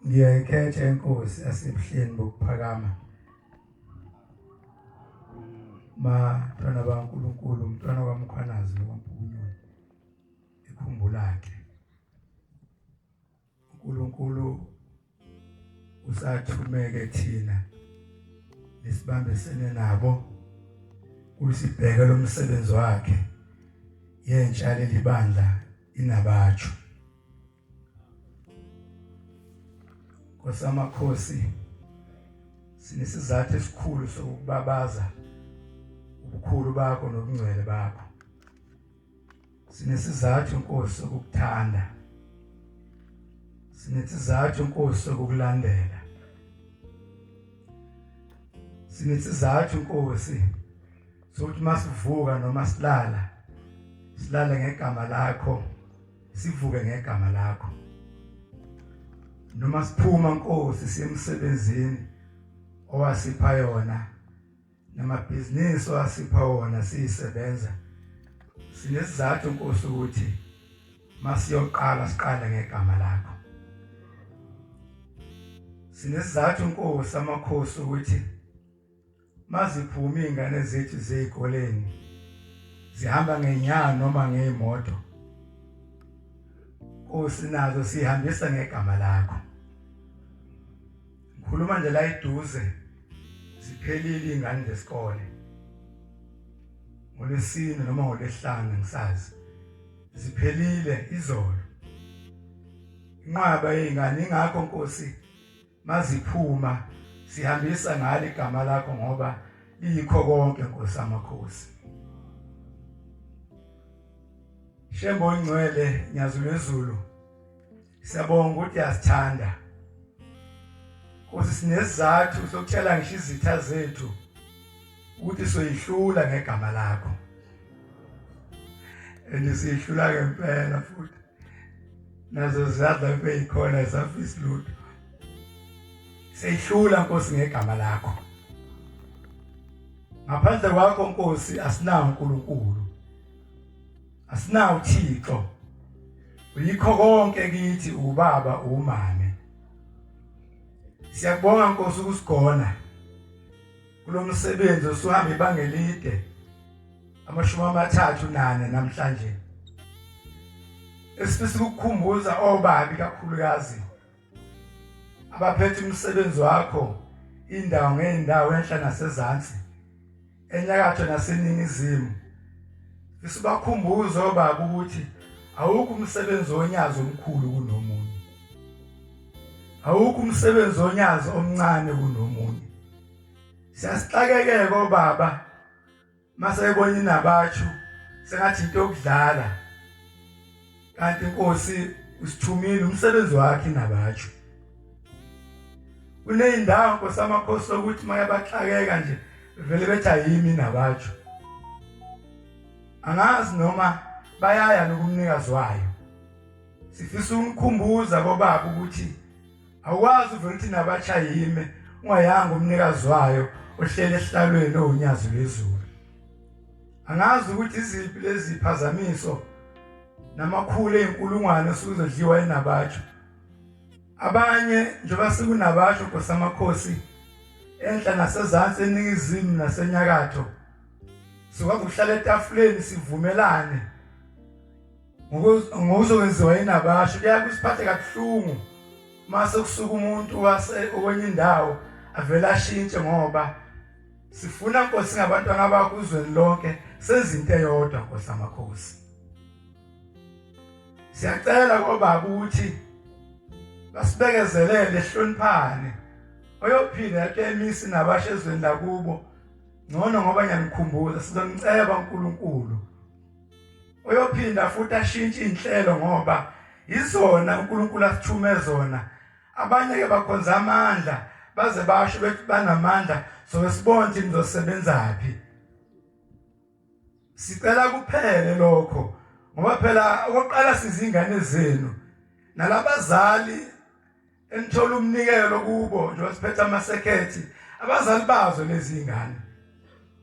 ngiyayikhetha inkosi asebuhleni bokuphakama ma mntwana baNkulunkulu umntwana kwaMkhwanazi nokwampukunyoni ikhumbulakhe uNkulunkulu usathumeke thina nesibambisene nabo kusibheke lomsebenzi wakhe yentsha lelibandla inabatsho Kosamakhosi sinesizathu esikhulu sokubabaza ubukhulu bakho nobungcwele bakho sinesizathu Nkosi sokukuthanda sinesizathu Nkosi sokukulandela sinesizathu Nkosi sokuthi masivuka noma silala silale ngegama lakho sivuke ngegama lakho noma siphuma nkosi semsebenzini owasipha yona namabhizinisi owasipha wona siyisebenza sinesizathu nkosi ukuthi masiyoqala siqale ngegama lakho sinesizathu nkosi amakhosi ukuthi Maziphuma izingane zethu zezikoleni zihamba ngenyawo noma ngemoto. Usinazo sihambisa ngegama lakho. Ngikhuluma nje la eduze ziphelile izingane zesikole. Ngolesine noma ngolesihlanu ngisazi. Ziphelile izolo. Inqwaba yezingane ingakho Nkosi maziphuma sihambisa ngale igama lakho ngoba liyikho konke Nkosi amakhosi Shembo ingcwele nyazulwezulu siyabonga ukuthi uyasithanda Nkosi sinesizathu sokuthela ngisho izitha zethu ukuthi soyihlula ngegama lakho andisihlula ngempela futhi nazo ziyadla kube yikhona isafisi lutho seyihlula nkosi ngegama lakho ngaphandle kwakho nkosi asinawo uNkulunkulu asinawo uThixo uyikho konke kithi ubaba umame siyakubonga nkosi ukusigona kulo msebenzi osuhamba ibanga elide amashumi amathathu nane namhlanje esifisa ukukhumbuza obabi kakhulukazi abaphethe umsebenzi wakho indawo ngeendawo enhla nasezansi enyakatho naseningizimu isibakhumbuzo baba ukuthi awukho umsebenzi onyazi omkhulu kunomunye awukho umsebenzi onyazi omncane kunomunye Siyasixakekeke obaba mase ebona inabatshu sengathi into yokudlala kanti inkosi usithumile umsebenzi wakhe inabatshu kuneyindawo nkosi amakhosi ukuthi mayabaxakeka nje vele bethi ayimi inabatshu angazi noma bayaya nokumnikazi wayo sifisa umkhumbuza bobaba ukuthi Awukwazi vele ukuthi nabatsha yime ungayanga umnikazi wayo ohlele esihlalweni owunyazi lwezulu. Angazi ukuthi iziphi lezi phazamiso namakhulu enkulungwane suzodliwa enabatsha. Abanye nje basikunabatsha kosamakhosi enhla nasezantsi eningizimu nasenyakatho. Siwakuhlala etafuleni sivumelane ngokuzokwenziwa yini abasho kuyaye kusiphathe kabuhlungu mase kusuka umuntu okwenye indawo avele ashintshe ngoba sifuna nkosi ngabantwana bakho uzweni lonke sezinto eyodwa nkosi amakhosi siyacela kobaba ukuthi basibekezelele hloniphane oyophinda yakemisi nabasha ezweni lakubo ngcono ngoba ngiyanikhumbuza sizomceba uNkulunkulu uyophinda futhi ashintshe inhlelo ngoba izona uNkulunkulu asithume zona abanye ke bakhonza amandla baze basho bethi banamandla so sibone ukuthi nizosebenza phi sicela kuphele lokho ngoba phela okokuqala sizingane zenu nalabazali enithola umnikelo kubo njengoba siphetha amasekhethi abazali bazo nezingane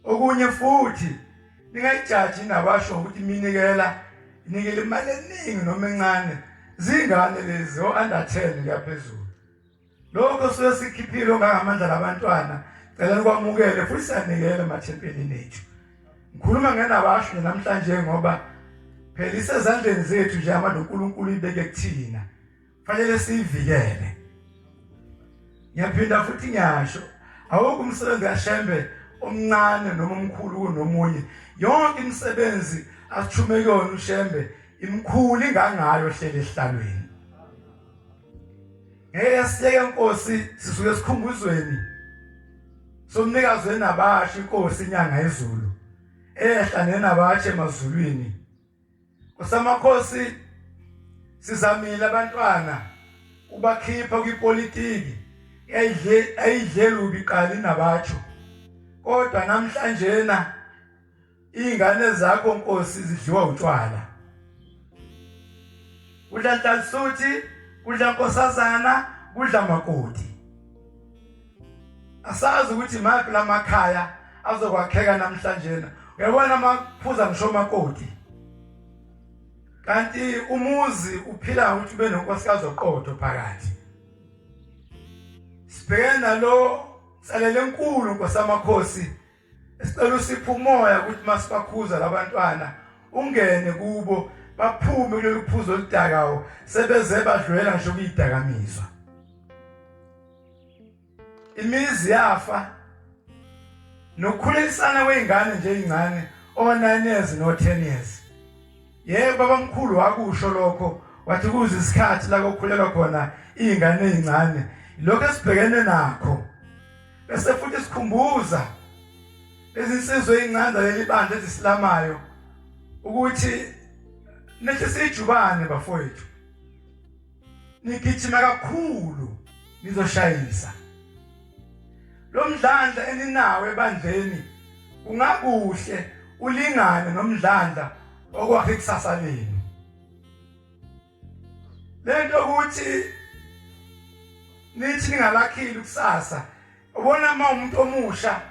okunye futhi ningayijaji nabasho ukuthi iminikela inikele imali eningi noma encane zingane lezi o-under 10 kuyaphezulu lokho suke sikhiphile ongangamandla labantwana cela nikwamukele futhi sanikele emathempelini ethu ngikhuluma ngenabasho namhlanje ngoba phela isezandleni zethu nje amandla uNkulunkulu ibeke kuthina fanele siyivikele ngiyaphinda futhi ngiyasho awukho umsebenzi kaShembe omncane noma omkhulu kunomunye yonke imisebenzi asithume kuyona uShembe imkhulu ingangayo hlele ehlalweni ngeke siyeke inkosi sisuke sikhumbuzweni somnikazi wenabasha inkosi inyanga yezulu ehla nenabatshe emazulwini Usamakhosi sizamile abantwana ubakhipha kwipolitiki yayidle ayidle lubi qali nabatsho kodwa namhlanje na ingane zakho nkosi zidliwa utshwala udla ntansuthi kudla nkosazana kudla makoti asazi ukuthi maphi lamakhaya azokwakheka namhlanje na uyabona amaphuza ngisho makoti kanti umuzi uphila ukuthi ube nonkosikazi oqotho phakathi sibhekene nalo nsalele enkulu nkosamakhosi Sicela usiphe umoya ukuthi masibakhuza labantwana ungene kubo baphume kulolu phuzo oludakawo sebeze badlwela ngisho kuyidakamizwa imizi yafa nokukhulisana kweingane nje ezincane o9 years no 10 years yebo babamkhulu wakusho lokho wathi kuze isikhathi la kokhulelwa khona izingane ezincane lokho esibhekene nakho bese futhi sikhumbuza izinsizwa ezincane leli bandla ezisilamayo ukuthi nithi sijubane bafowethu nigijima kakhulu nizoshayisa lo mdlandla eninawo ebandleni kungakuhle ulingane nomdlandla okwakhe ikusasa lenu lento ukuthi nithi ningalakhile kusasa ubona uma umuntu omusha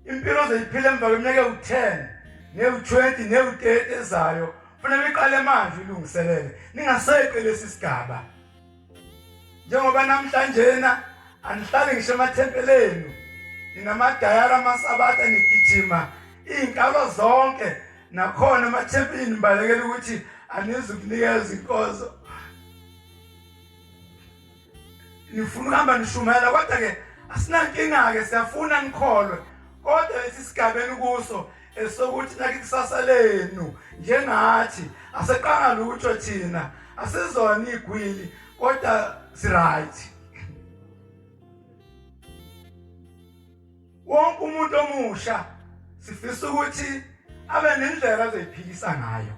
impilo ozoyiphila emva kweminyaka ewu-10 newu-20 newu-30 ezayo kufanele iqale manje ilungiselele ningaseqe lesi sigaba njengoba namhlanjena anihlali ngisho emathempelenu ninamadayara amasabatha nigijima iy'nkalo zonke nakhona emathempini nibalekela ukuthi anizukunikeza inkozo nifuna ukuhamba nishumayela kodwa-ke asinankinga-ke siyafuna nikholwe kodwa lesi sigabeni kuso esokuthi nake kusasa lenu njengathi aseqanga lutho thina asizona igwili kodwa siright Wonke umuntu omusha sifisa ukuthi abe nendlela azoyiphikisa ngayo.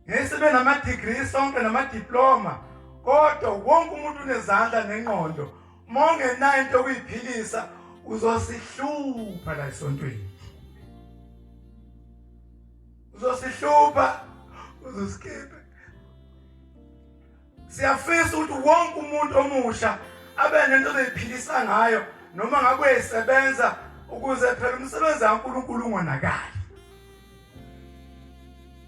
Ngesibe nama degree sonke nama diploma kodwa wonke umuntu unezandla nengqondo mongenayo into okuyiphikisa uzosihlupha la esontweni. Uzosihlupha uzosikipha Siyafisa ukuthi wonke umuntu omusha abe nento ozoyiphilisa ngayo noma ngabe uyesebenza ukuze phela umsebenzi kaNkulunkulu ungonakali.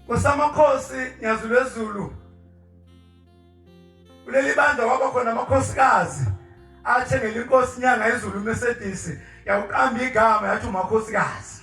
Kusamakhosi Nyazulwezulu kuleli bandla kwaba khona amakhosikazi athengele inkosi inyanga izulu Mercedes yawuqamba igama yathi umakhosikazi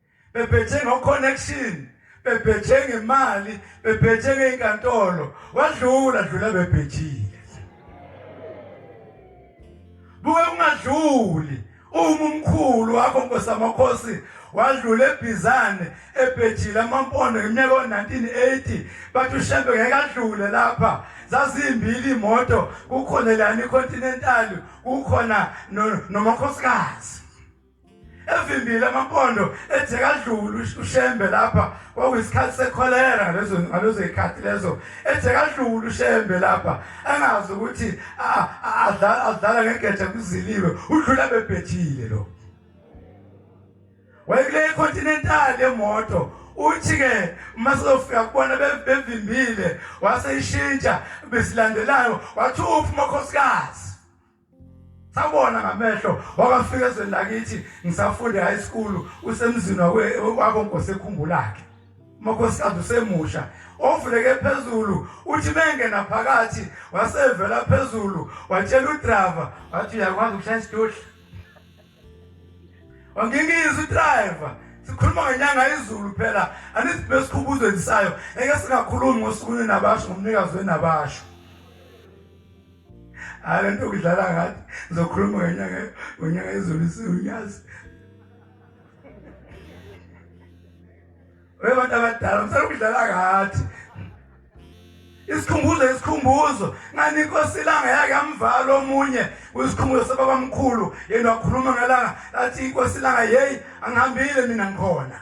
bephethe ngoconnection bephethe ngemali bephethe ngeinkantolo wadlula dlula bephethile buke ungadluli uma umkhulu wakho nkosi amakhosi wadlula ebhizane ebhejile amampondo ngeminyaka o-1980 bathi ushembe ngeke adlule lapha zazimbili imoto kukhona lani icontinentali kukhona nomakhosikazi evimbile amampondo ejekadlulu ushembe lapha kwakuyisikhathi sekholera lezo ngalezo ikhathi lezo ejekadlulu ushembe lapha angazi ukuthi adlala ngegeja kuziliwe udlula bebhethile lo wayekule continental emoto uthi ke uma sizofika kubona bevimbile waseyishintsha besilandelayo wathi uphi umakhosikazi Sabona ngamehlo wakafika ezweni lakithi ngisafunda high school usemzini wako nkosekhumbulakhe umakhosikazi usemusha ovuleke phezulu uthi bengena phakathi wasevela phezulu watshela udriver wathi uyakwazi ukushaya isitudla wangingiza udriver sikhuluma ngenyanga izulu phela anisibe sikhubuzo endisayo eke singakhulumi ngosukwini nabasho ngomnikazi wenabasho hayi le nto kudlala ngathi ngizokhuluma ngenyanga ngonyaka izulu isiwunyazi webantu abadala msana ukudlala ngathi isikhumbuzo isikhumbuzo ngani inkosi ilanga yake amvala omunye uyisikhumbuzo sababamkhulu yena wakhuluma ngelanga lathi inkosi ilanga yeyi angihambile mina ngikhona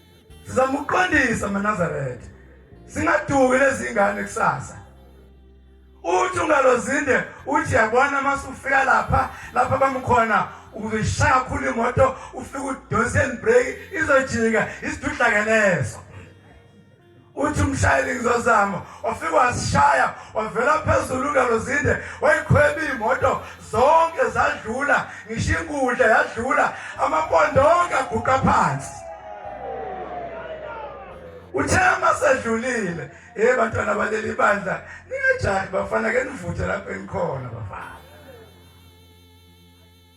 sizamuqondisa maNazaretha singaduki lezingane kusasa uthi ungalozinde uthi yabona masufika lapha lapha bamkhona uzishaya kakhulu imoto ufike udonse and break izojika isidudlakeleso uthi umshayeli ngizozama wafika wasishaya wavela phezulu ngalo zinde wayikhweba imoto zonke zadlula ngisho inkundla yadlula amapondo onke aguqa phansi uthe uma sedlulile hey bantwana baleli bandla ningajahi bafana ke nivuthe lapho enikhona bafana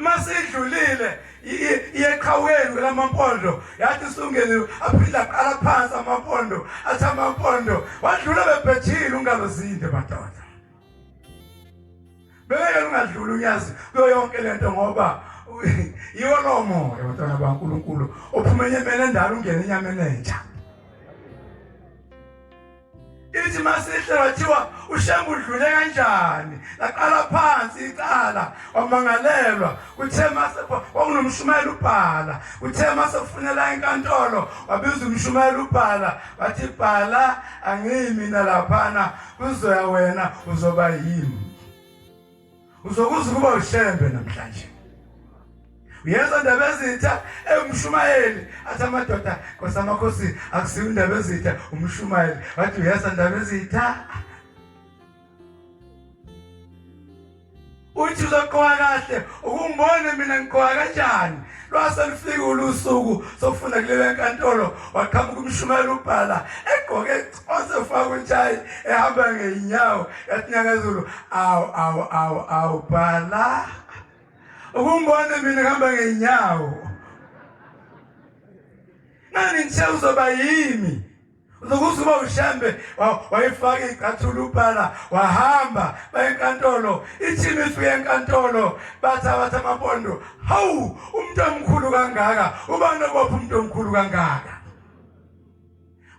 masidlulile iyeqhawukeni kwelamampondo yathi sungeliwe aphinde aqala phansi amampondo athi amampondo wadlula bebhethile ungalozinde madoda bengeke lungadluli unyazi kuyo yonke le nto ngoba yiwo lowo moya bantwana bankulunkulu ophuma enyameni endala ungena enyameni entsha ithi masihle wathiwa ushembe udlule kanjani laqala phansi icala wamangalelwa kuthe mase kwakunomshumayeli ubhala kuthe mase kufunela enkantolo wabiza umshumayeli ubhala wathi bhala angiyimina laphana kuzoya wena uzoba yimi Uzokuza ukuba ushembe namhlanje. Uyezwa ndaba ezitha engumshumayeli athi amadoda Nkosi amakhosi akusiyo indaba ezitha umshumayeli wathi uyezwa ndaba ezitha uthi uzoqoka kahle ukungibone mina ngiqoka kanjani lwase lufike ulusuku sokufuna kulele nkantolo waqhamuka umshumayeli ubhala egqoke osefaka utshayi ehamba ngeyinyawo yatinyakazulu awu awu awu awu bhala ukumbona mina ngihamba ngeyinyawo nani ngishe uzoba yimi uzokuthi uba ushambe wayifaka icathula ubhala wahamba bayenkantolo ithimi ifike enkantolo bathi abathi amapondo hawu umuntu omkhulu kangaka ubani obopha umuntu omkhulu kangaka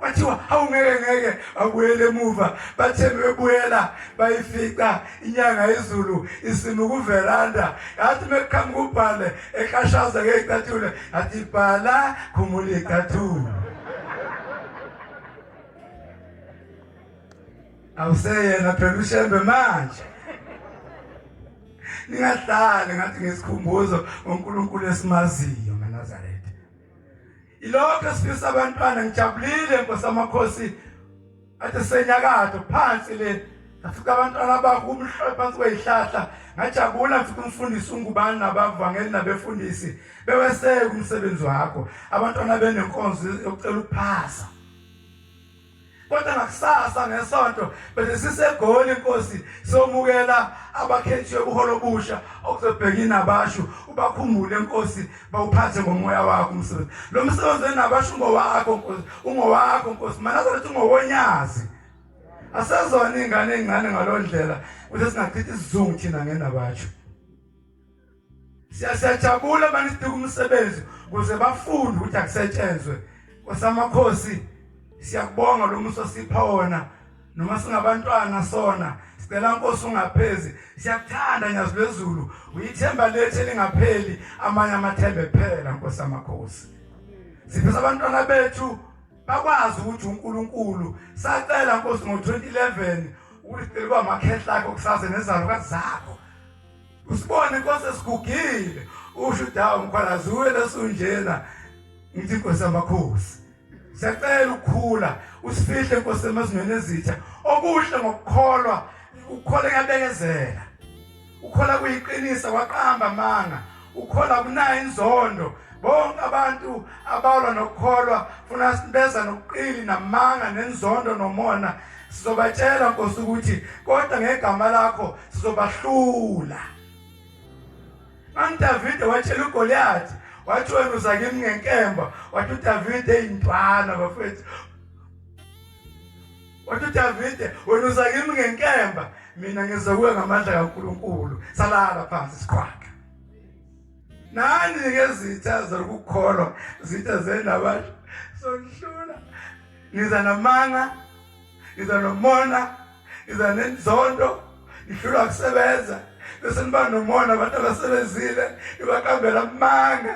bathiwa awungeke ngeke abuyele emuva bathe bebuyela bayifica inyanga izulu isima kuveranda yathi mekuqhamuka ubhale eqashaza ngeyicathulo yathi bhala khumula icathulo awuseyena phela ushembe manje ningahlali ngathi ngesikhumbuzo ngoNkulunkulu esimaziyo maNazaretha Ilokho sifisa abantwana ngijabulile Nkosi amakhosi athe senyakatho phansi le ngafika abantwana abakumhlophe phansi kwezihlahla ngajabula ngifika umfundisi ungubani nabavangeli nabefundisi beweseke umsebenzi wakho abantwana benenkonzo yokucela ukuphasa kodwa ngakusasa ngesonto bese sisegoli inkosi somukela abakhethiwe buholo obusha okuzobheka inabashu ubakhumbule inkosi bawuphathe ngomoya wakho umsebenzi lo msebenzi wenabashu ngowakho nkosi ungowakho nkosi mana sokuthi ungowonyazi asezona ingane encane ngalondlela ukuthi singachithi isizungu thina ngenabashu Siyasajabula manje sidika umsebenzi ukuze bafunde ukuthi akusetshenzwe. Kosamakhosi siyakubonga lo muso sipha wona noma singabantwana sona sicela nkosi ungaphezi siyakuthanda nyazi lwezulu uyithemba lethu elingapheli amanye amathembe phela nkosi amakhosi sifisa abantwana bethu bakwazi ukuthi uNkulunkulu sacela nkosi ngo2011 ukuthi cela kwamakhehla akho kusaze nezalo kazakho Usibone kwase sigugile usho udawu mkhwalazi uwe lesunjena ngithi inkosi yamakhosi siyacela ukukhula usifihle inkosi emazweni ezitha okuhle ngokukholwa ukukhola kuyabekezela ukhola kuyiqinisa kwaqamba amanga ukhola kunayo inzondo bonke abantu abalwa nokukholwa funa sibeza nokuqili namanga nenzondo nomona Sizobatshela Nkosi ukuthi kodwa ngegama lakho sizobahlula. Manje Davide watshela uGoliath wathi wena uza kimi ngenkemba wathi uDavide eyintwana bafethu wathi uDavide wena uza kimi ngenkemba mina ngizokuya ngamandla kaNkuluNkulu salala phansi siqhwaga nani-ke zitha zokukholwa zitha zendabasho sokuhlula ngiza namanga ngiza nomona ngiza nenzondo ngihlulwa kusebenza bese niba nomona abantu abasebenzile ibakambela amanga